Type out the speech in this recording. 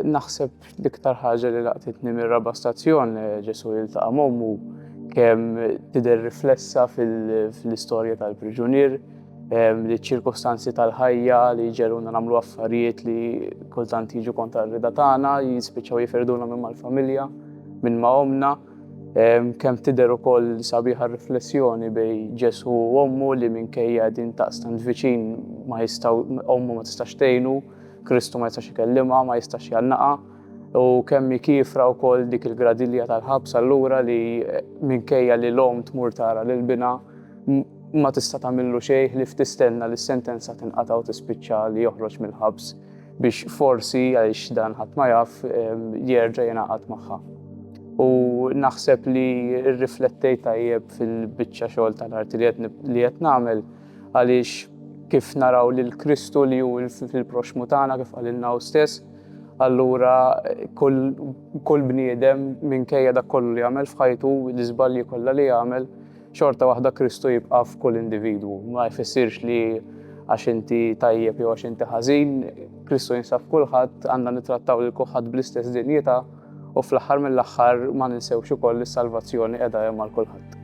naħseb l-iktar ħaġa li laqtitni mir-raba stazzjon eh, Ġesu jiltaqa' mommu kemm tidher riflessa fil-istorja tal-priġunier li ċirkostanzi tal-ħajja li ġeruna namlu affarijiet li kultant jiġu kontra r-rida tagħna, jispiċċaw jiferduna minn mal-familja, minn ma' omna. Kemm tidher ukoll sabiħa riflessjoni bej Ġesu u ommu li minkejja din taqstant viċin ma jistaw ommu ma tistax tgħinu, Kristu ma jistax ikellimha, ma jistax jannaqa. U kemm kifra wkoll dik il-gradilja tal-ħabs allura li minkejja li l-om tmur tara lil bina Ma tista' tagħmillu xejn ħlief tistenna li s-sentenza tinqata' u tispiċċa li joħroġ mill-ħabs biex forsi, għaliex dan ħadd ma jaf, jerġa' jingħaqad magħha. U naħseb li rriflettejt tajjeb fil-biċċa xogħol ta' l-arti li qed nagħmel għaliex kif naraw lil Kristu li hu fil-proxxmu tagħna kif qalilna hu stess, allura kull bniedem minkejja dak kollu li għamel f'ħajtu, l-iżbalji kollha li għamel, Xorta waħda Kristu jibqa' f'kull individwu. Ma jfissirx li għax inti tajjeb jew għax inti ħażin, Kristu jinsab kulħadd għandna nittrattaw lil kulħadd bl-istess dinjità u fl-aħħar mill-aħħar ma ninsewx ukoll li s-salvazzjoni qiegħda hemm għal kulħadd.